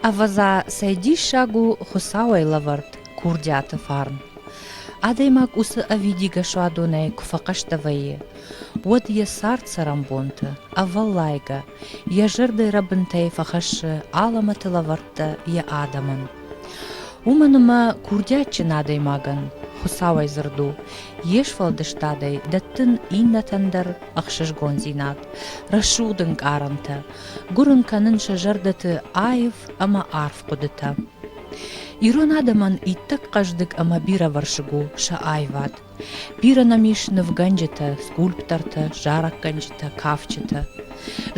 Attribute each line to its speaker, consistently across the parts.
Speaker 1: Ӕвӕдза, цӕй диссаг у Хуыцауӕй лӕвӕрд курдиаты фарн! Адӕймаг уыцы ӕвидигӕ суадонӕй куы фӕхъӕстӕ вӕййы, уӕд йӕ цард цӕрӕнбонты, ӕвӕллайгӕ, йӕ зӕрдӕ рӕбынтӕй фӕхӕссы алӕмӕты лӕвӕрттӕ йӕ адӕмӕн. Уымӕн ӕмӕ курдиатджын адӕймагӕн, Хуыцауӕй дзырд у, йе сфӕлдыстадӕй дӕттын иннӕтӕн дӕр ӕхсызгондзинад, рӕсугъд ӕнкъарӕнтӕ, гуырын кӕнын сӕ зӕрдӕты аив ӕмӕ арф хъуыдытӕ. Ирон адӕмӕн иттӕг хъӕздыг ӕмӕ бирӕвӕрсыг у сӕ аивад, Бирӕ нӕм ис нывгӕнджытӕ, скульптортӕ, зарӕггӕнджытӕ, кафджытӕ.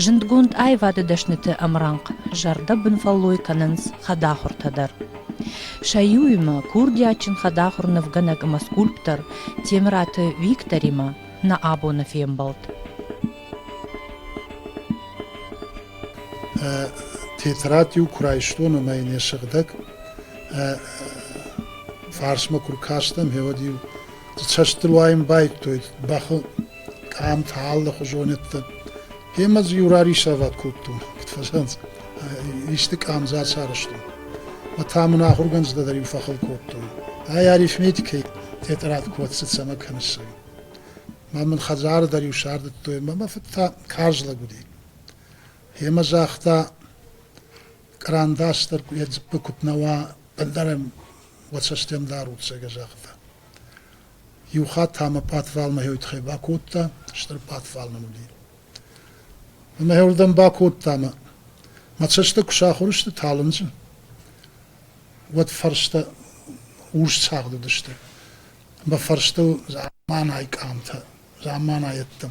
Speaker 1: Зындгонд аивады дӕсныты ӕмрӕнхъ зӕрдӕбын фӕллой кӕнынц хӕдахуыртӕ дӕр. Сӕ иуимӕ курдиатджын хӕдахуыр нывгӕнӕг ӕмӕ скульптор Темыраты Викторимӕ нӕ абоны фембӕлд.
Speaker 2: Тетрад-иу куы райстон ӕмӕ йын йӕ сыгъдӕг фарсмӕ куы ркастӕн, гъеуӕд-иу дзы цӕстыл уайын байдтой бӕхы къамтӕ, алыхуызонӕдтӕ. Гемӕ дзы иу рарисӕвӕд кодтон, куыд фӕсӕнц, исты къамдзы ацарӕзтон. Ӕмӕ та мын ахуыргӕнджытӕ дӕр-иу фӕхыл кодтон. Ай арифметикӕйы тетърад куы ӕрцыд, цӕмӕ кӕныс ӕй? Мӕ мын хӕдзары дӕр-иу сардыдтой, ӕмӕ мӕ фыд та карз лӕг уыди. Гемӕ загъта, Кърандас дӕр йӕ дзыппы куыд нӕ уа, ӕлдар ӕм уӕ цӕстӕн дарут, зӕгъгӕ загъта. Иу хатт та мӕ пъатвалмӕйой тыххӕй бакодта, стыр пъатвал мын уыди. Ӕмӕ уырдӕм бакодта мӕ. Мӕ цӕстӕ куы сахуыр сты талынджы, уӕд фӕрстӕ урс цагъд уыдысты. Мӕ фӕрстыл заманайы къамтӕ, заманайӕдтӕ.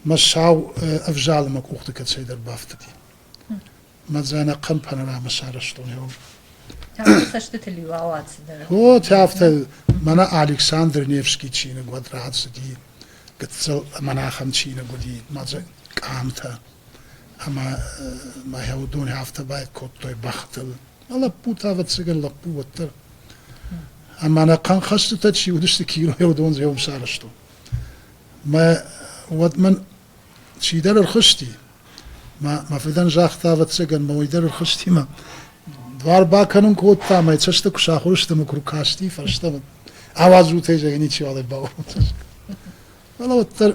Speaker 2: Мӕ сау ӕвзалы мӕ къухты кӕцӕйдӕр бафтыди. мӕ дзӕнӕг кӕм панорамӕ сарӕзтон ион. цӕстытыл-иу ауад Вот афтӕ мӕнӕ Александр Невский чиныг уӕд рацыди, гыццыл монахӕн чиныг уыди мӕ къамтӕ ӕмӕ мӕ уыдон афтӕ бай кодтой бӕхтыл. Мӕ лӕппу та ӕвӕццӕгӕн лӕппу уӕддӕр. Ӕмӕ нӕ хъанхӕстытӕ чи уыдысты кинойы уыдон зӕм сарӕзтон. Мӕ уӕд мӕн чидӕр ӕрхызти. Мӕ, мӕ фыдӕн загъта, ӕвӕццӕгӕн, мӕ уый дӕр ӕрхызти мӕ дуар бакӕнын кодта, мӕ цӕстӕ куы сахуыр сты, мӕ куы ркасти фӕстӕмӕ. Ауадзут, я ничего бавод. Фӕлӕ уӕддӕр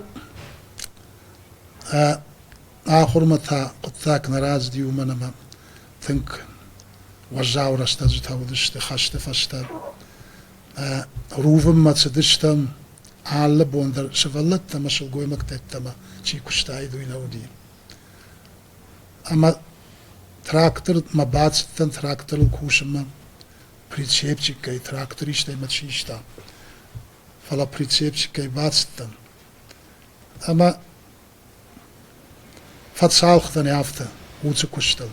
Speaker 2: ахуырмӕ та хъуыддаг нӕ рацыди, уымӕн ӕмӕ тынг уӕззау рӕстӕджытӕ уыдысты хӕсты фӕстӕ. Рувынмӕ цыдыстӕм, алы бон дӕр сывӕллӕттӕ ӕмӕ сылгоймӕгтӕ йеддӕмӕ чи куыстаид, уый нӕ уыди. Ӕмӕ трактормӕ бацыдтӕн тракторыл кусынмӕ, прицепчикӕй трактористӕй мӕ систа. Фӕлӕ прицепчикӕй бацыдтӕн. Ӕмӕ Фӕцалхдзӕни афтӕ, уыцы куыстыл.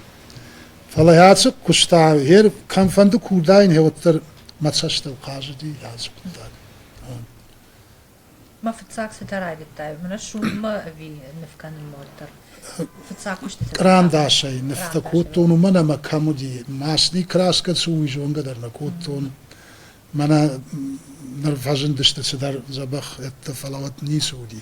Speaker 2: Фӕлӕ ӕцӕг куыста, йе кӕмфӕнды курдайын, уӕддӕр мӕ цӕстыл хъазыди ӕз хъуыддаг. Мӕ фыццаг цытӕ райдыдтай? Мӕнӕ суммӕ ӕви ныв кӕнынмӕ
Speaker 1: уӕддӕр? Фыццаг куыстытӕ. Кърандасӕй нывтӕ
Speaker 2: кодтон, уымӕн ӕмӕ кӕм уыди, масти краска цы у, уый зонгӕ дӕр нӕ кодтон. Мӕнӕ ныр фӕзындысты цыдӕр дзӕбӕх ӕдтӕ, фӕлӕ уӕд ницы уыди.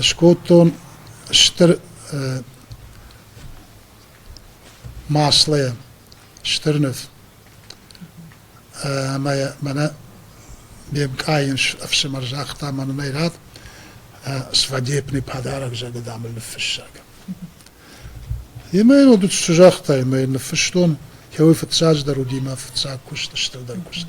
Speaker 2: Скодтон стыр маслӕй стыр ныв ӕмӕ йӕ мӕнӕ ме мкъайын ӕфсымӕр загъта мӕн уын ӕй рад свадебный подарок зӕгъы дам ыл ныффыссӕг. Имӕ йын уыд цы загъта, имӕ йын ныффыстон, йӕ уый фыццаджыдӕр уыди мӕ фыццаг куыст, стырдӕр куыст.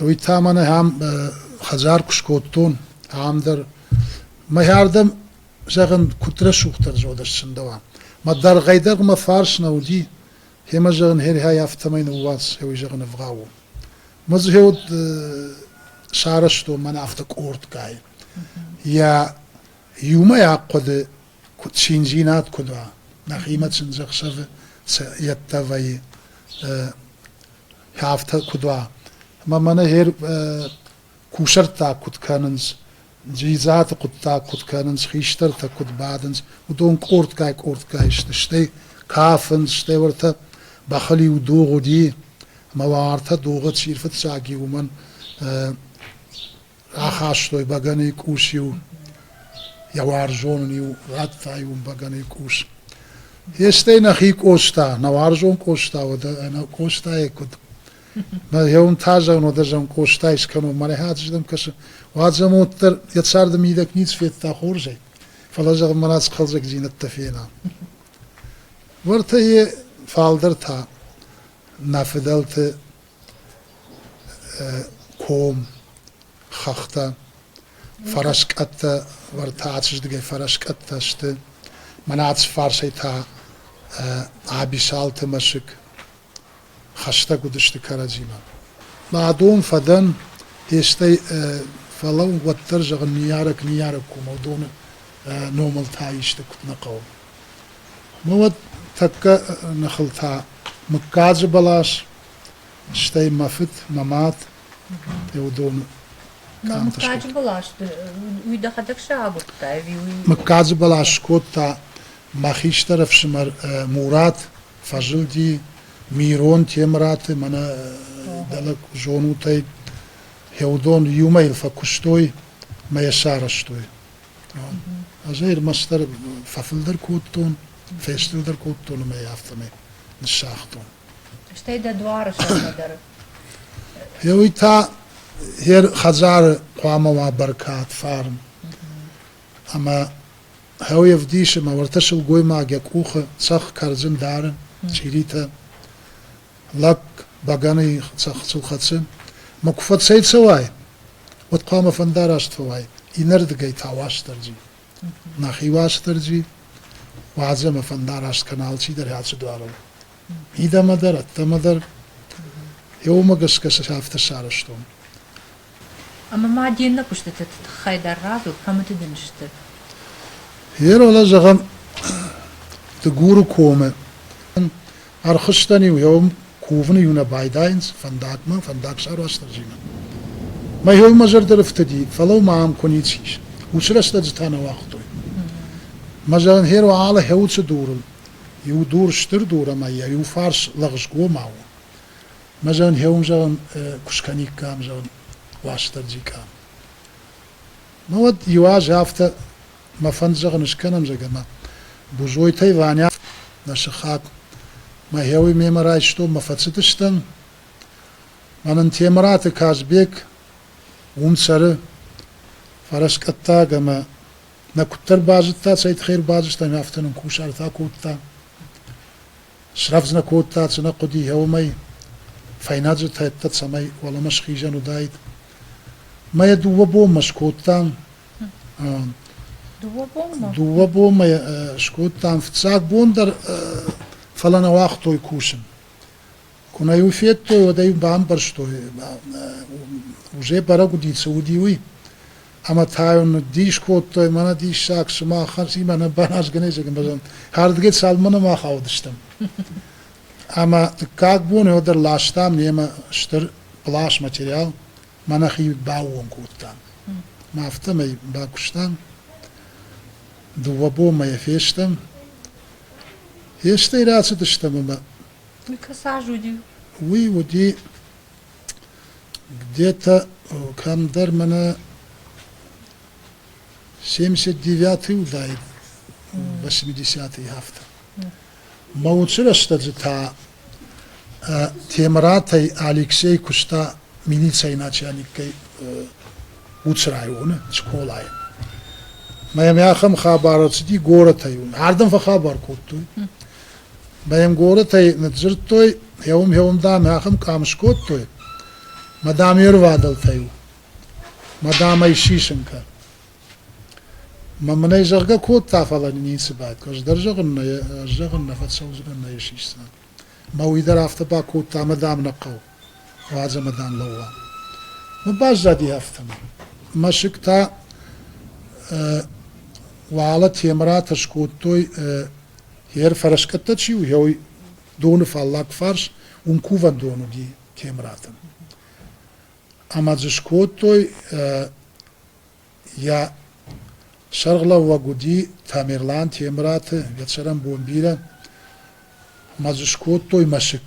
Speaker 2: Уый та мӕн ахӕм хӕдзар куы скодтон, ахӕм дӕр. Мӕхӕрдӕм, зӕгъын, куыд рӕсугъддӕр зоды сцындӕуа. Мӕ дӕргъӕй дӕр мӕ фарс нӕ уыди, семӕ, зӕгъын, херхӕй афтӕмӕй ныууадз, цӕуй, зӕгъын, ӕвгъау у. Мӕ дзы уыд сарӕзтон мӕнӕ афтӕ къордгай. Йӕ иумӕйаг хъуыды, куыд циндзинад куыд уа, нӕхимӕ сын ӕхсӕвы йеддӕ вӕййы. афтӕ куыд уа. Ӕмӕ мӕнӕ гъер кусӕрттаг куыд кӕнынц, дзидзаты хъуыддаг куыд кӕнынц, хистӕртӕ куыд бадынц, уыдон къордгай-къордгай сты, стӕй кафынц, стӕй ӕртӕ бӕхыл-иу дугъ уыди, ӕмӕ уа ӕртӕ дугъы чи рфыццаг и, уымӕн Рахастой бӕгӕныйы къус-иу, йӕ уарзон ын-иу радта-иу ын бӕгӕныйы къус. Естӕй нӕхи Къоста, нӕ уарзон Къоста, уӕдӕ ӕнӕ Къостайы куыд? Мӕ йеун та зӕгъын, уӕдӕ зӕгъын, Къостайы скӕнон, мӕ рӕхӕты зӕдӕм кӕсы. Уӕд зӕмод дӕр йӕ царды мидӕг ницы федта хорзӕй, фӕлӕ зӕгъын, мӕнӕ цы хъӕлдзӕгдзинӕдтӕ фена. Уӕртӕ йе фалдӕр та нӕ фыдӕлты ком, хӕхтӕ, фӕрӕскъӕттӕ, уӕртӕ ацызӕдӕгӕй фӕрӕскъӕттӕ сты. Мӕнӕ ацы фарсӕй та Абисалты мӕсыг хӕстӕг уыдысты кӕрӕдзимӕ. Мӕ дон фӕдӕн, естӕй фӕлӕу, уӕддӕр, зӕгъын, ныййарӕг ныййарӕг комау доны номыл та исты куыд нӕ хъӕуы. Науӕд тӕккӕ ныхыл та мыггаджы бӕлас, стӕй мӕ фыд, мӕ мад Еудоны мыггаджы
Speaker 1: бӕлас уый дӕхӕдӕг сӕ агуырдта ӕви уый? Мыггаджы бӕлас
Speaker 2: скодта мӕ хистӕр ӕфсымӕр Мурат фӕзылди Мирон Темыраты мӕнӕ дӕлӕ зонутӕй Еудон иумӕ йыл фӕкуыстой мӕ йӕ сарӕзтой. Азӕй ӕрмӕстдӕр фӕфылдӕр кодтон, фӕстӕдӕр кодтон ӕмӕ йӕ афтӕмӕй ныссагътон.
Speaker 1: Стӕй дӕ
Speaker 2: дуары сӕрмӕ дӕр? Уый та йӕ хӕдзары хъуамӕ уа бӕркад, фарн. Ӕмӕ хъӕуы ӕвдисы, мӕ уӕртӕ сылгоймаг йӕ къухы цӕхх кӕрдзын дары, чъиритӕ. лӕг бӕгӕныйы цӕхцыл хӕцы, ма куы фӕцӕйцӕуай, уӕд хъуамӕ фӕндараст фӕуай, иннӕрдыгӕй та Уастырджи. Нӕхи Уастырджи уадзӕ ӕмӕ фӕндараст кӕна алчидӕр ацы дуарыл. Мидӕмӕ дӕр, ӕддӕмӕ дӕр. Йӕ уымӕ гӕсгӕ сӕ афтӕ сарӕзтон.
Speaker 1: Ӕмӕ ма де ннӕ куыстыты тыххӕй дӕр радзур, кӕмыты дын
Speaker 2: сты. Еролӕ зӕгъӕм Дыгуры комы. Ӕрхызтӕн-иу еум кувын-иу нӕ байдайынц фӕндагмӕ, фӕндагсӕрвӕстӕджимӕ. Мӕйой мӕ зӕрдӕ рыфтыди, фӕлӕу ма ам куы ницы ис. Уыцы рӕстӕджытӕ нӕ уагътой. Мӕ зӕгъын, Херо алы хӕуцы дурыл иу дур стыр дур ӕмӕ йӕ иу фарс лӕгъзгомау у. Мӕ зӕн хеун, зӕгъӕн, куд скӕниккам, зӕгъӕн, Уастырджи ка. Ну уӕд иу аз афтӕ мӕ фӕнд, зӕгъӕн, скӕнӕм, зӕгӕ, ӕма Бузойтӕй Ваня, нӕ сыхаг, мӕ хеуй мемӕ райстон, мӕ фӕццитыстӕн. Мӕнӕн Темыраты Казбек ун цӕры фӕрӕскъӕддаг ӕма нӕ куддӕр базудта, цӕй туххӕй ӕрбазудста, ӕма афтӕ нин кусартӕ кодта. Срӕвдз нӕ кодта цынӕ хъуыдыйӕ уымӕй, фӕйнӕджы тӕттӕ цӕмӕй уӕлӕмӕ схизӕн уыдаид. Мӕ дыууӕ бонмӕ скодтам, Дыууӕ бонмӕ? дыууӕ бонмӕ йӕ скодтам, фыццаг бон дӕр фӕлӕ нӕ уагътой кусын. Куынӕ-иу федтой, уӕд ӕй бамбӕрстой, уже бӕрӕг уыди, цы уыди, уый. ӕма тайун дис кодтой, мӕнӕ диссаг, сымахӕн си мӕнӕ баназгӕнезӕгӕн бӕзӕн, хӕрдгӕ цалмӕ нӕма хаудыстӕм. Ӕма дыккаг бон еу дӕр ластам немӕ стыр плаш материал, мӕнӕ хид баууон кодтам. Ма афтӕмӕй бакустам, дууӕ бонмӕ фестӕм, фестӕй рацыдыстӕм ӕмӕ Уый кӕсаж
Speaker 1: уыди. уый уыди
Speaker 2: Где-то кӕмдӕр мӕнӕ семьдесят девятый уыдаид восьмидесятый афтӕ. Мӕ уыцы рӕстӕджы та Темыратӕй Алексей куыста милицӕйы начальникӕй уыцы районы, Скъолайы. Мӕ мӕ ахӕм хабар ӕрцыди горӕтӕй уын. Ардӕм фӕхабар кодтой. Баймгорытӕй ныдздзырдтой, Гьеум-гьеум, дам, ахӕм къам скодтой, мадам йе рвадӕлтӕ-иу, мадам ӕй сисын кӕн. Мӕ мын ӕй зӕгъгӕ кодта, фӕлӕ ницы бадт. Ӕз дӕр зӕгъын нӕ, ӕз зӕгъын нӕ фӕцӕудзынӕн, нӕ сисдзынӕн. Мӕ уый дӕр афтӕ бакодта, мадам нӕ хъӕу. Уадзӕ, мадам, лӕууӕм. Мы баззади афтӕмӕй. Мӕсыг та уӕлӕ Темыратӕ скодтой Йе рфӕрӕскъӕттӕ чи у, йӕ доны фаллаг фарс уым кувӕндон уыди Темраты. Ӕмӕ дзы скодтой, йӕ сӕргълӕууӕг уыди Тамерлан Темраты, Ветсӕрӕн бон бирӕ, ӕмӕ дзы скодтой мӕсыг.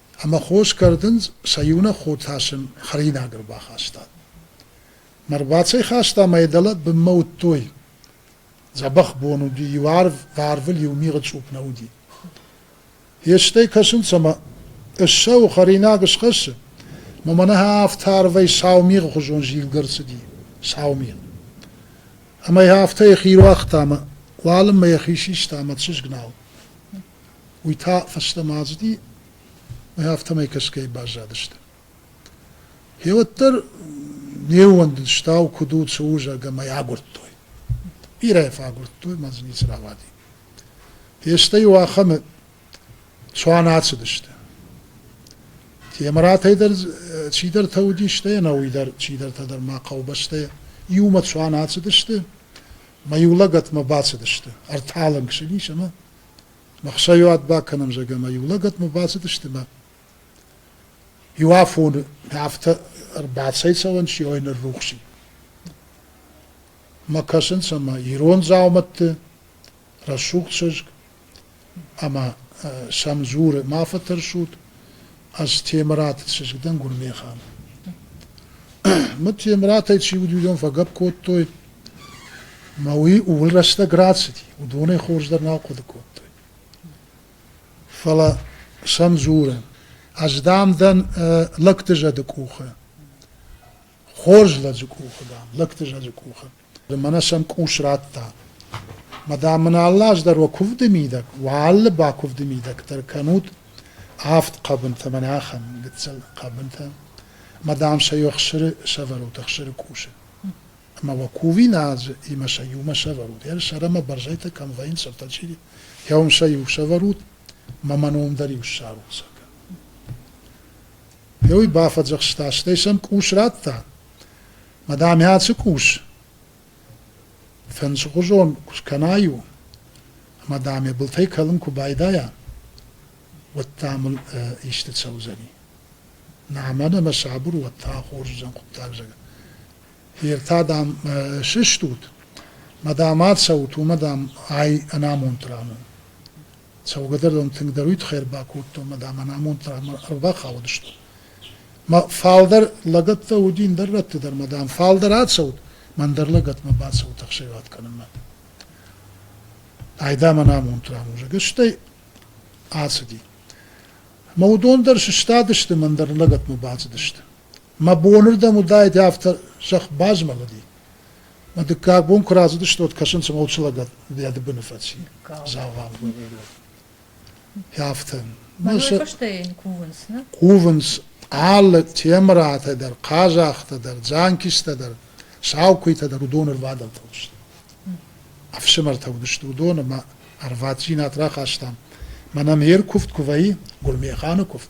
Speaker 2: ӕмӕ хос кӕрдынц, сӕ иунӕг хо та сын хӕринаг ӕрбахаста. Мӕ рбацӕйхаста мӕ дӕлӕ бынмӕ уыдтой. Дзӕбӕх бон уыди, иу арв, арвыл иу мигъы цъупп нӕ уыди. Йестӕй кӕсынц ӕмӕ ыссӕуы хӕринаг схӕссы, мӕ мӕнӕ афтӕ арвӕй сау мигъы хуызон зилгӕ ӕрцыди, сау мигъ. Ӕмӕ йӕ афтӕ йӕхи руагъта ӕмӕ уалынмӕ йӕхи систа ӕмӕ чызг нал. уый та фӕстӕмӕ ацыди ӕмӕ афтӕмӕй кӕсгӕй баззадысты. Гьеуӕддӕр не ууӕндыд, стау куыд у, цы у, зӕгъгӕ, мӕй агуырдтой. Бирӕ фӕагуырдтой, мӕ дзы ницы рауади. Фестӕ-иу ахӕмы цуан ацыдысты. Темыратӕй дӕр чидӕртӕ уыдис, стӕй ӕнӕуый дӕр чидӕртӕ дӕр ма хъӕубӕстӕ иумӕ цуан ацыдысты, мӕ иу лӕгӕтмӕ бацыдысты, ӕрталынг сын ис ӕмӕ Ӕхсӕйы уат бакӕнӕм, зӕгӕмӕ иу лӕгӕтмӕ бацыдысты мӕ иу афоны афтӕ ӕрбацӕйцӕуӕн чи ой ныррухси. Мӕ кӕсынц ӕмӕ ирон дзаумӕтты рӕсугъд чызг ӕмӕ сӕм дзуры, ма фӕтӕрсут, Ӕз Темыраты чызг дӕн Гуырнехан. Мы Темыратӕй чи уыд, уыдон фӕгӕпп кодтой, мӕ уый ууыл рӕстӕг рацыди, уыдонӕй хорздӕр нал хъуыды кодтой. Фӕлӕ сӕм дзурын, ӕз дам дӕн лӕгты зӕды къухы, хорз лӕджы къухы дам, лӕгты зӕды къухы. Мӕнӕ сӕм къус радта. Мӕ дам мын алы аз дӕр уӕ куывды мидӕг, уӕ алы бакуывды мидӕг дӕр кӕнут авд хъӕбынтӕ, мӕнӕ ахӕм гыццыл хъӕбынтӕ. Мӕ дам сӕ иу ӕхсыры сӕвӕрут, ӕхсыры къусы. Ӕмӕ уӕ кувин азы, имӕ сӕ иумӕ сӕвӕрут. Йӕ сӕрӕ мӕ бӕрзӕйтӕ кӕм вӕййынц, ӕртӕ чи, йӕ уым сӕ иу сӕвӕрут, мӕ мӕ ном дӕр иу ссарут, зӕгъгӕ. Йӕ уый бафӕдзӕхста, стӕй сӕм къус радта. Мадам, цы къус фӕндзгъуызон куы скӕна иу, ӕмӕ даме былтӕй кӕлын куы байдайа, уӕд та мын исты цӕудзӕни. Нӕ мӕнӕ мӕ сабыр уӕд та хорз уыдзӕн хъуыддаг зӕгъын. Фер та, дам, сыстут, мадам ацӕут, уымӕ, дам, ай ӕнамонд ран у. Цӕугӕдӕр дӕм тынгдӕр уый тыххӕй ӕрбакодтон, мад ӕмӕ нӕ амонд дӕр ӕрбахаудысты. Мӕ фалдӕр лӕгӕттӕ уыди ӕндӕр рӕтты дӕр, мӕ дам, фалдӕр ацӕут, мӕн дӕр лӕгӕтмӕ бацӕут ӕхсӕвӕд кӕнынмӕ. Айда мӕн амонд рамузӕг. Стӕй ацыди. Мӕ уыдон дӕр сыстадысты, мӕн дӕр лӕгӕтмӕ бацыдысты. Мӕ бонырдӕм уыдаид афтӕ сӕх базмӕлыди. Мӕ дыккаг бон куы рацыдысты, уӕд кӕсын цыма уыцы лӕг гӕды быны фӕци. Дзавам. Афтӕ. Мӕ
Speaker 1: фыстӕй кувынц, не? Кувынц
Speaker 2: алы темыратӕ дӕр, хъазахтӕ дӕр, дзанкистӕ дӕр, саукуыйтӕ дӕр уыдон ӕрбадӕвтыл сты. Ӕфсымӕртӕ уыдысты уыдон ӕмӕ ӕрваддзинад рахастам. Мӕнӕн йе ркуывд куы вӕййы, Гуырмеханы куывд,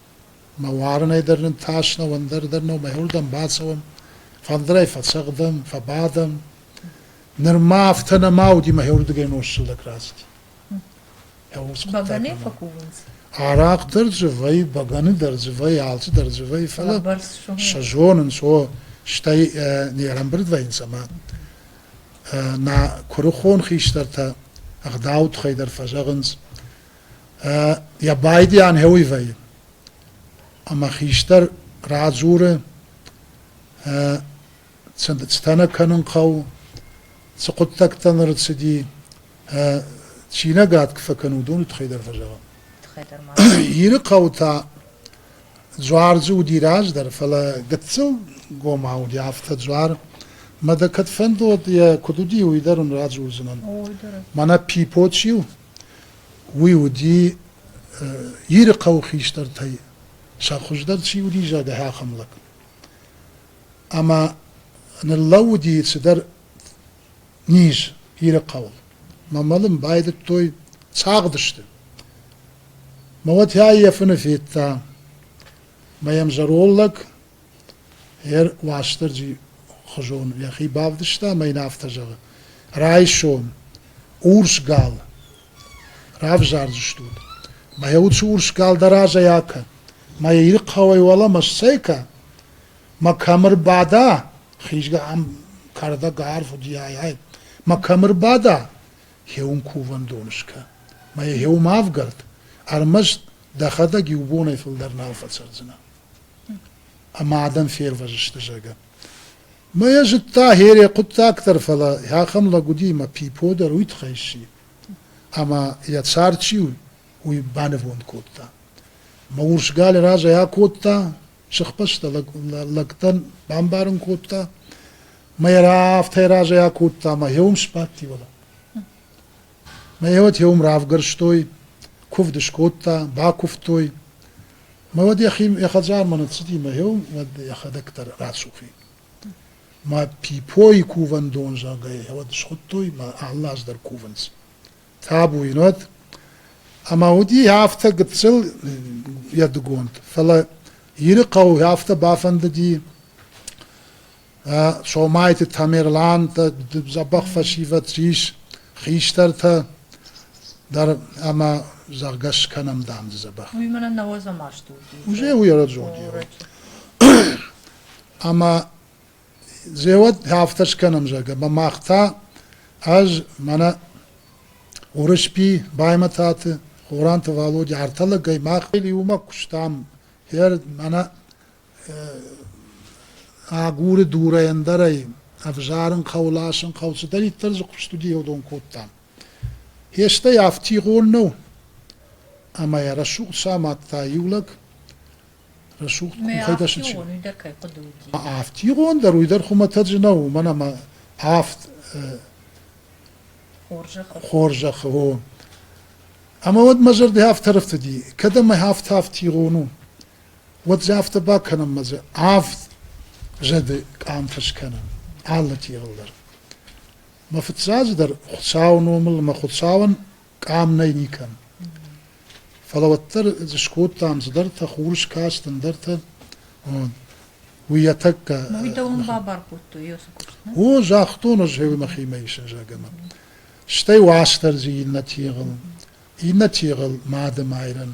Speaker 2: Мӕ уарынӕй дӕр нын тас нӕу, ӕндӕр дӕр нӕу, мӕйуырдӕм бацӕуӕм, фӕндырӕй фӕцӕгъдӕм, фӕбадӕм. Нырма афтӕ нӕма уыди мӕйуырдыгӕй нос сыгъдӕг
Speaker 1: раст.
Speaker 2: Бӕгӕны фӕкувынц? Арахъ дӕр дзы вӕййы, бӕгӕны дӕр дзы вӕййы, алцы дӕр дзы вӕййы, фӕлӕ сӕ
Speaker 1: зонынц, о,
Speaker 2: стӕй не рӕмбырд вӕййынц ӕмӕ нӕ куырыхон хистӕртӕ ӕгъдауы тыххӕй дӕр фӕзӕгъынц, йӕ байдиан хӕуый вӕййы. Ӕмӕ хистӕр радзуры, цы цытӕ нӕ кӕнын хъӕуы, цы хъуыддӕгтӕ ныр цыди, чинӕгад куы фӕкӕн, уыдоны тыххӕй дӕр фӕзӕгъӕм. Тыххӕй дӕр
Speaker 1: ма. Иры хъӕу та
Speaker 2: дзуардзы уыди раздӕр, фӕлӕ гыццыл гомау уыди, афтӕ дзуар. Мӕ дӕ кӕд фӕнд уыд, йӕ куыд уыди, уый дӕр уын радзурдзынӕн. Мӕнӕ Пипо чи у? уый уыди Иры хъӕуы хистӕртӕй сӕ хуыздӕр чи уыди зӕд ахӕм лӕг. Ӕмӕ ныллӕууыди цыдӕр низ Иры хъӕуыл. Мӕ мӕлын байдыдтой, цагъдысты. Мӕ уатӕй йӕ фыны федта. Мӕ йӕм зӕрол лӕг Ер Уастырджи хуызон йӕхи бавдыста ӕмӕ йын афтӕ зӕгъы, Райсом, урс гал, равзардзыстут. Мӕ йӕ уыцы урс гал дӕ разӕй акӕн. Мӕ йӕ Ирыхъӕуӕй уӕлӕмӕ сцӕйкӕ, мӕ кӕм ӕрбада, хизгӕ ам кӕрдӕг арф уыди, ай, ай, мӕ кӕм ӕрбада, гъеуым кувӕндон скӕн, мӕ йӕ гъеуым авгӕрд, ӕрмӕст дӕхӕдӕг иу бонӕй фылдӕр нал фӕцӕрдзынӕ. ӕмӕ адӕм фервӕзысты, зӕгъгӕ. Мӕ йӕ зыдта, Хере хъуыддаг дӕр, фӕлӕ ахӕм лӕг уыди, ӕмӕ Пипо дӕр уый тыххӕй сси. Ӕмӕ йӕ цард чи у, уый банывонд кодта. Мӕ урс гал разӕй акодта, сыхбӕстӕ лӕг, лӕгтӕн бамбарын кодта. Мӕ йӕ афтӕ разӕй акодта, ӕмӕ йӕ уым сбадти, вӕлӕ. Мӕ уотӕ уым равгӕрстой, кувд скодта, бакувтой. Мӕ уӕд йӕхи йӕ хӕдзармӕ ныццыди мӕ гъеуым, уӕд йӕхӕдӕг дӕр рӕсугъ и. Мӕ пипойы кувӕндон, зӕгъгӕ, йӕ уӕд схуыдтой, мӕ алы аз дӕр кувынц. Табу ин уӕд. Ӕмӕ уыди афтӕ гыццыл йӕ дыгонд. Фӕлӕ Иры хъӕу афтӕ бафӕндыди, Сомайты Тамерлан дзӕбӕх фӕсивӕд ис хистӕртӕ дӕр ӕмӕ зӕгъгӕ скӕнӕм дам дзы дзӕбӕх. Уый
Speaker 1: мӕнӕ нӕ уӕ замаст уыди. Узе уый
Speaker 2: раджоди. Ӕмӕ зеуӕд афтӕ скӕнӕм зӕгъгӕ, ӕмӕ мах та ӕз мӕнӕ Урысби Баймӕтаты Хоранты Валоди артӕлӕгӕй мах иумӕ куыстам. Хер мӕнӕ Агуры дурӕй ӕндӕрӕй, ӕвзарын хъӕуы, ласын хъӕуы, цыдӕриддӕр дзы куыст уыди, уыдон кодта. Хестӕй афтигъон нӕу, ӕмӕ йӕ рӕсугъд самадта иу лӕг. Рӕсугъд хуымхӕйтӕ сычъи. Афтигъон дӕр уый дӕр хуымӕтӕджы нӕу, уымӕн ӕмӕ афт хорзӕхы у. Ӕмӕ уӕд мӕ зӕрдӕ афтӕ ӕрӕфтыди, кӕд ӕмӕ афтӕ афтигъон у. уӕд дзы афтӕ бакӕнынмӕ дзы авд зӕды къамтӕ скӕнӕм алы тигъыл дӕр. Мӕ фыццаджы дӕр Хуыцауы номыл мӕ Хуыцауӕн къам нӕй никӕм. Фӕлӕ уӕддӕр дзы скодтам цыдӕртӕ, хурыскаст, ӕндӕртӕ. Уый йӕ тӕккӕ... Уый дӕуӕн бабар
Speaker 1: кодтой, Иосиф Христос?
Speaker 2: О, загътон ӕз мӕхимӕ ис ӕзӕгӕмӕ. Стӕй уастӕр дзы иннӕ тигъыл. Иннӕ тигъыл Мады майрӕн,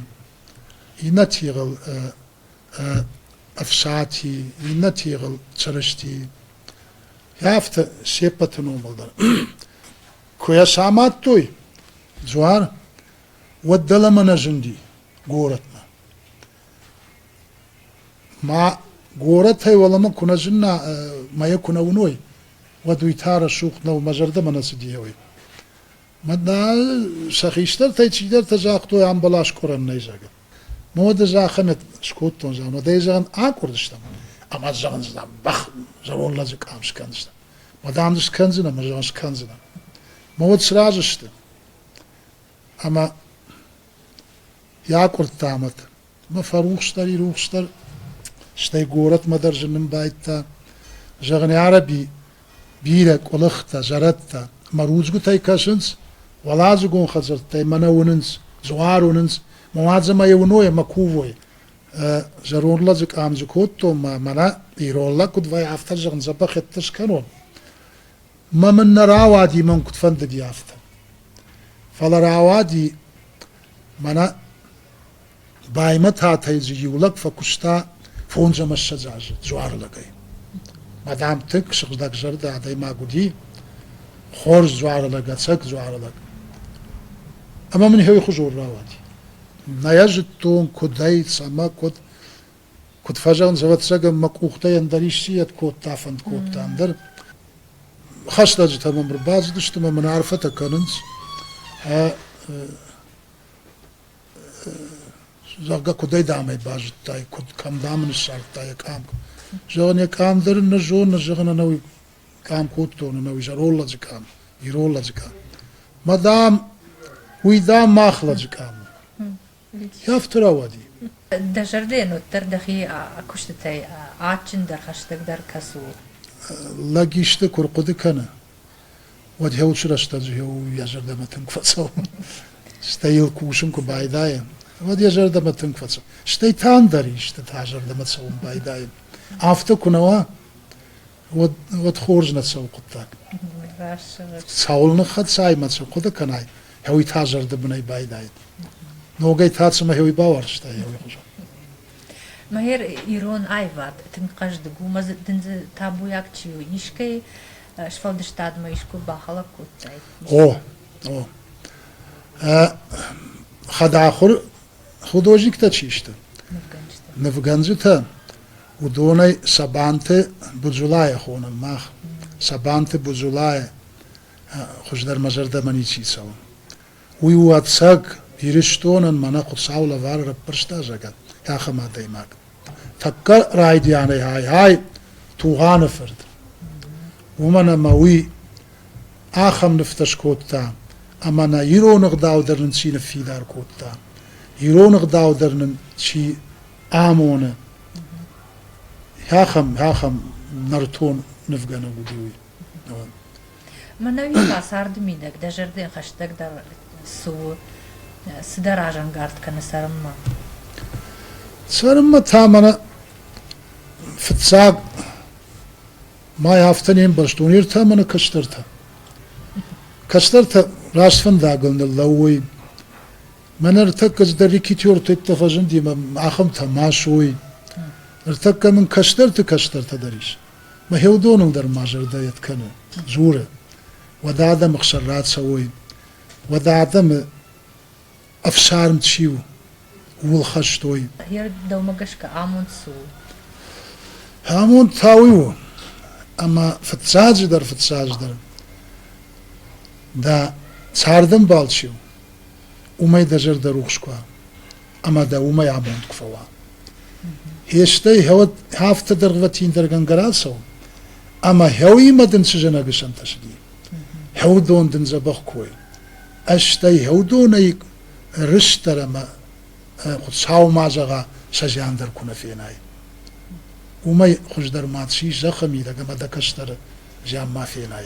Speaker 2: иннӕ тигъыл Ӕфсати, иннӕ тигъыл Чырысти. Афтӕ се ппӕты номыл дӕр. Куы йӕ самадтой дзуар, уӕд дӕлӕмӕ нӕ зынди горӕтмӕ. Ма горӕтӕй уӕлӕмӕ куы нӕ зынна, мӕйӕ куы нӕ уыной, уӕд уый та рӕсугъд нӕу, мӕ зӕрдӕмӕ нӕ цыди еуӕй. Мадмӕ сӕ хистӕртӕй цидӕртӕ загътой, ам баласкъорӕн нӕй, зӕгъгӕ. Мӕ мадӕ захӕмӕт скодтон, зӕгъгӕ, мадӕй зӕгъын акъуырдыстӕм, ӕмӕ зӕгъын, зӕгъ, бӕх зӕронд лӕджы къам скӕндзынӕн. Ма дам дзы скӕндзынӕ, ма зӕгъын, скӕндзынӕ. Мӕ уӕд сразы сты. Ӕмӕ йӕ акъуырдта мад. Мӕ фӕрухсдӕр, ирухсдӕр, стӕй горӕтмӕ дӕр зынын байдта. Зӕгъын, Араби бирӕ къуылыхтӕ, зӕрӕдтӕ мӕ рудзгуытӕй кӕсынц, уӕладзыгон хӕдзӕрттӕй мӕ нӕ уынынц, дзуар уынынц, мӕ уадзы мӕ йӕ уыной ӕмӕ кувой. Зӕронд лӕдзы къам дзы кодтон ма мӕнӕ ирон лӕг куыд вӕййы, афтӕ зӕгъын, дзӕбӕх ӕдде скӕнон. Мӕ мын нӕ рауади, мӕн куыд фӕндыди, афтӕ. Фӕлӕ рауади мӕнӕ Баймӕтатӕй дзы иу лӕг фӕкуыста фондз ӕмӕ ссӕдз азы дзуарылӕгӕй. Мадам тык сыгъдӕгзӕрдӕ адӕймаг уыди, хорз дзуарылӕг, ӕцӕг дзуарылӕг. Ӕмӕ мын иһӕй хуызон рауади. Нӕ йӕ зыдтон, куыд ӕй, цӕмӕ, куыд. Куыд фӕзӕгъын, ӕвӕццӕгӕн, мӕ къухтӕй ӕндӕр исчи-йӕд кодта, фӕнд кодта, ӕндӕр. Хӕстӕджытӕ мӕм ӕрбацыдысты мӕ мын арфӕтӕ кӕнынц. зӕгъгӕ, куыдӕй дам ӕй базыдтай, куыд кӕм дам ын ссардтай йӕ къам. Зӕгъын, йӕ къам дӕр ын нӕ зоны, зӕгъын ӕнӕуи къам кодтон, ӕнӕуи зӕролладзы къам, иролладзы къам. Мӕ дам, уый, дам, мах лӕджы къам у. Афтӕ рауади. Дӕ зӕрдӕйӕн
Speaker 1: уӕддӕр дӕхи куыстытӕй адджындӕр, хӕстӕгдӕр кӕцы у? Лӕг
Speaker 2: исты куы рхъуыды кӕны, уӕд гьеуыд срӕстӕджы йӕ зӕрдӕмӕ тынг фӕцӕуы. Стӕй йыл кусын куы байдайы, уӕд йӕ зӕрдӕмӕ тынг фӕцӕуы. Стӕй та ӕндӕр истытӕ зӕрдӕмӕ цӕуын байдайы. Афтӕ куы нӕ уа, уӕд, уӕд хорз нӕ цӕуы хъуыддаг. Цӕуыл ныххӕцай мӕ цы хъуыды кӕнай, гьеуый та зӕрдӕбынӕй байдайы. Ногӕй та цымӕ гьеуый бауарзтай гьеуый хуызӕн?
Speaker 1: Мӕгӕр ирон аивад тынг хъӕздыг у, мӕ дындзы табуйаг чи у, искӕй сфӕлдыстадмӕ искуы бахӕлӕг кодтай? О, о.
Speaker 2: Хӕдахуыр художниктӕ чи сты? Нывгӕнджытӕ. Нывгӕнджытӕ, уыдонӕй Сабанты Буджулайӕ хонӕм мах. Сабанты Буджулайӕ хуыздӕр мӕ зӕрдӕмӕ ничи цӕуы. Уый уаццаг Ирыстонӕн мӕнӕ Хуыцау лӕвар раппӕрста загӕтт ахӕм адӕймаг. Тӕккӕ райдианӕй ай-ай Тугъаны фырт. Уымӕн ӕмӕ уый ахӕм нывтӕ скодта, ӕмӕ нӕ ирон ӕгъдау дӕр нын чи ныффидар кодта, ирон ӕгъдау дӕр нын чи амоны, ахӕм, ахӕм нӕртон нывгӕнӕг уыди уый.
Speaker 1: Мӕнӕуи та царды мидӕг дӕ зӕрдӕ хӕстӕгдӕр цы у? Цыдӕр разӕнгард кӕны
Speaker 2: цӕрынмӕ. Цӕрынмӕ та мӕнӕ фыццаг май афтӕ не мбӕрзт уынертӕ ӕмӕ кӕстӕртӕ. Кӕстӕртӕ раст фӕндагыл ныллӕууой. Мӕнӕ ныртӕккӕ цыдӕр рекетёрты иттӕ фӕзынди мӕ ахӕмтӕ ма суой. Ныртӕккӕ мын кӕстӕрты кӕстӕртӕ дӕр ис. Мӕ хеуыдоныл дӕр ма зӕрдӕйӕт кӕны, дзуры, уӕдӕ адӕмы хсӕн рацӕуой, уӕдӕ адӕмы ӕфсарм чи у, ууыл хӕстой. Йӕ дӕумӕ
Speaker 1: гӕсгӕ амонд цы
Speaker 2: у? Амонд та уый у, ӕмӕ фыццаджыдӕр, фыццаджыдӕр, дӕ цардӕмбал чи у, уымӕй дӕ зӕрдӕ рухс куа. ӕма дӕ уомӕй абонд куы фӕуа. Хестӕй гьӕуӕд афтӕ дӕргвӕтиндӕргӕнгӕ рацӕун, ӕма гьӕу имӕ дин цы зӕнӕг исӕнтӕсиди. Гьӕудон дин дзӕбӕх кой. Ӕстӕй гьӕудонӕй рыстӕр ӕма Хуцау ма зӕгъа, сӕ зиан дӕр ку нӕ фенай. Уымӕй хуыздӕр ма ци зӕххӕ мидӕг ӕма дӕ кӕстӕр зиан ма фенай.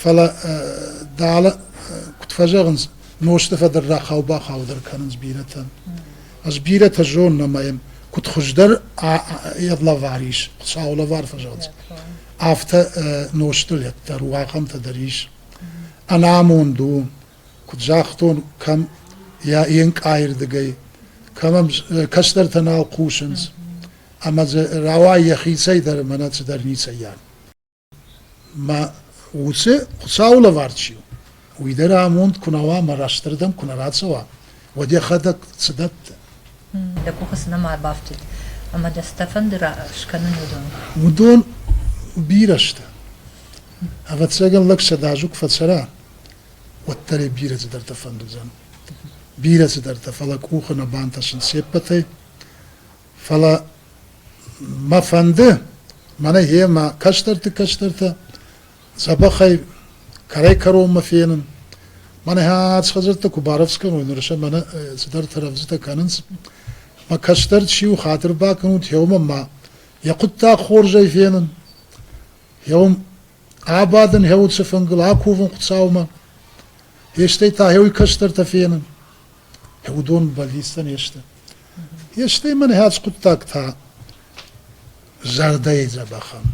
Speaker 2: Фӕлӕ дӕлӕ куыд фӕзӕгъынц, нозты фӕдӕр рахау-бахаудӕр кӕнынц бирӕтӕн. Ӕз бирӕтӕ зонын ӕмӕ йӕм куыд хуыздӕр йӕ лӕвар ис, Хуыцауы лӕвар фӕзӕгъынц, афтӕ нозтылет дӕр у, ахӕмтӕ дӕр ис. Ӕнамонд у, куыд загътон, кӕм йӕ енкъайырдыгӕй, кӕмӕм кӕстӕртӕ нал хъусынц, ӕмӕ дзы рауайы йӕхицӕй дӕр ӕмӕ нӕ цыдӕр ницӕййаг. Мӕ уыцы Хуыцауы лӕвар чи у, уый дӕр амонд куы нӕ уа ӕмӕ растырдӕм куы нӕ рацӕуа, уӕд йӕхӕдӕг цы дӕтты? Дӕ
Speaker 1: къухы цы нӕма ӕрбафтыд ӕмӕ дӕ цы дӕ фӕнды скӕнын, уыдон?
Speaker 2: Уыдон бирӕ сты. Ӕвӕццӕгӕн лӕг сӕдӕ азы куы фӕцӕра, уӕддӕр йӕ бирӕ цыдӕртӕ фӕнд уыдзӕн. Бирӕ цыдӕртӕ, фӕлӕ къухы нӕ бантӕсын се ппӕтӕй. Фӕлӕ мӕ фӕнды, мӕнӕ гъемӕ кӕстӕрты кӕстӕртӕ дзӕбӕхӕй кӕрӕй-кӕронмӕ фенын. Мӕнӕ ӕц хӕдзӕрттӕ куы барӕвдз кӕной ныр сӕ мӕнӕ цыдӕртӕ рӕвдзытӕ кӕнынц. Мӕ кӕстӕр чи у, хатыр бакӕнут, гъеуымӕ ма йӕ хъуыддаг хорзӕй фенын. Гъеуым абадын гъӕуы цы фынгыл, акувын Хуыцаумӕ. Фестӕй та гъӕуй кӕстӕртӕ фенын. уыдон бӕллицтӕ не сты. Стӕй мӕн хӕц хъуыддаг та зӕрдӕйы дзӕбӕхӕн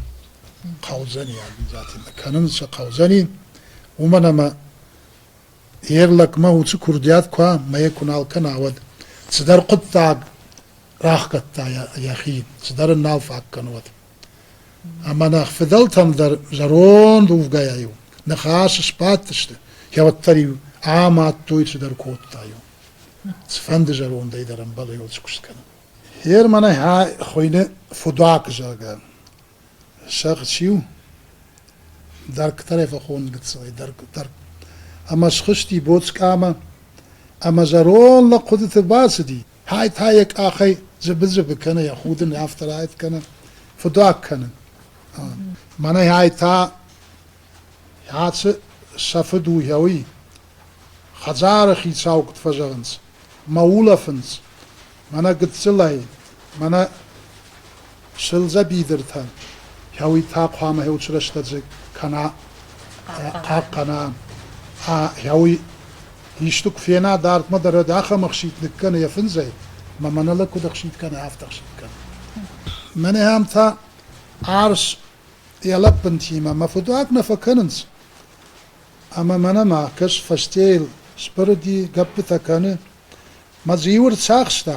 Speaker 2: хъӕудзӕни Агнзатина. Кӕнын сӕ хъӕудзӕни, уымӕн ӕмӕ йе лӕгмӕ уыцы курдиат куа мӕе куы нал кӕна, уӕд цыдӕр хъуыддаг рахгӕдта йӕхи, цыдӕр ын нал фаг кӕны уӕд. Ӕмӕ нӕ фыдӕлтӕм дӕр зӕронд увгӕйӕ-иу ныхас сбадтысты, кӕуӕддӕр-иу амадтой, цыдӕр кодта-иу. Цыфӕнды зӕрондӕй дӕр ӕмбӕлы куы скӕнын. Ер мӕнӕ хуыйны Фудуак, зӕгъгӕ. Сӕгъ чи у? Дӕргтӕрӕй фӕхон гыццылӕй дӕрг, дӕрг. Ӕмӕ схызти боцкъамӕ, ӕмӕ зӕронд лӕг хъуыдыты бацыди. хай та йӕ къахӕй зыбы-зыбы кӕны, йӕ худын афтӕ раит кӕны, фыдуаг кӕны. Мӕнӕ хай та ацы сӕ фыд у гьӕуи. Хӕдзары хицау куыд фӕзӕгъынц, мӕ улӕфынц, мӕнӕ гыццылӕй, мӕнӕ Сылдза бидыртӕн, гьӕуйтӕ хъуамӕ гьеуцрӕстӕдзыг кӕна, хъахъхъӕна. Гьӕуй, исты куы фена, дардмӕ дӕр ӕд ахӕм ӕхситт ныккӕны йӕ фындзӕй, мӕ мӕнӕлӕг куыд ӕхситт кӕны, афтӕ ӕхситт кӕны. Мӕнӕ ам та арс йӕ лӕппынтимӕ мӕ фыдуаг нӕ фӕкӕнынц. Ӕмӕ мӕнӕ ма, кӕс, фӕстейыл сбырыди, гӕппытӕ кӕны. Мӕ дзиуы рцахста,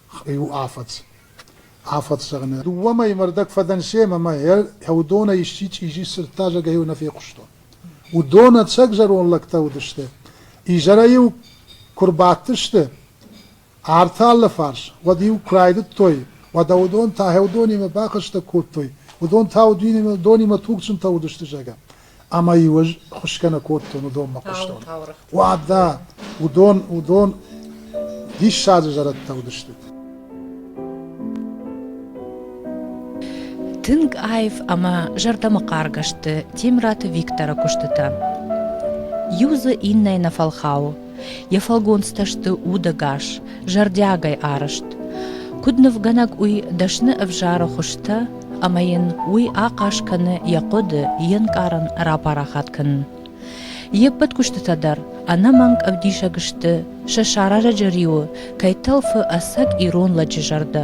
Speaker 2: Иу афӕдз. Афӕдз зӕгъынӕ. Дыууӕ мӕйы мӕ рдӕг фӕдӕн семӕ ӕмӕ йӕ уыдонӕй исчи чъизи сырдта зӕгӕй-иу нӕ фехъуыстон. Уыдон ӕцӕг зӕронд лӕгтӕ уыдысты. Изӕрӕй-иу куы рбадтысты арты алы фарс, уӕд-иу куы райдыдтой, уӕдӕ уыдон та гьӕу донимӕ бахӕстӕг кодтой, уыдон та уыдонимӕ тугджынтӕ уыдысты, зӕгъгӕ. ӕмӕ-иу ӕз хуысгӕ нӕ кодтон уыдон мӕ хъуыстон. Уӕдӕ уыдон, уыдон диссаджы зӕрӕдтӕ уыдысты. Тынг
Speaker 1: аив ӕмӕ зӕрдӕмӕхъаргӕ сты Темраты Викторы куыстытӕ. Иу дзы иннӕйы нӕ фӕлхауы, Йӕ фӕлгонцтӕ сты удӕгас, зӕрдиагӕй арӕзт. Куыд нывгӕнӕг уый дӕсны ӕвзары хуызтӕ, ӕмӕ йын уый ахъаз кӕны йӕ хъуыды, йе нкъарын рапарахат кӕнын. Йе ппӕт куыстытӕ дӕр ӕнӕмӕнг ӕвдисӕг сты, сӕ сӕрӕрӕджы риуы кӕй тӕлфы ӕцӕг ирон лӕджы зӕрдӕ,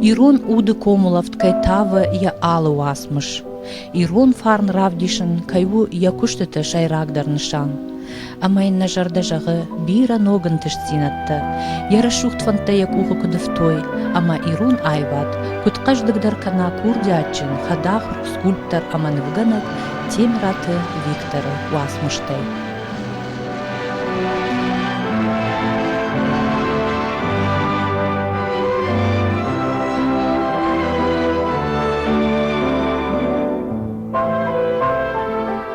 Speaker 1: ирон уды комулӕфт кӕй тавы йӕ алы уацмыс, ирон фарн равдисын кӕй у йӕ куыстыты сӕйрагдӕр нысан. ӕмӕ йын нӕ зӕрдӕ зӕгъы бирӕ ног ӕнтыстдзинӕдтӕ. Йӕ рӕсугъд фӕндтӕ йӕ къухы куыд ӕфтой, ӕмӕ ирон аивад, куыд хъӕздыгдӕр кӕна курдиатджын, хӕдахуыр, скульптор ӕмӕ нывгӕнӕг Темираты Викторы уацмыстӕй.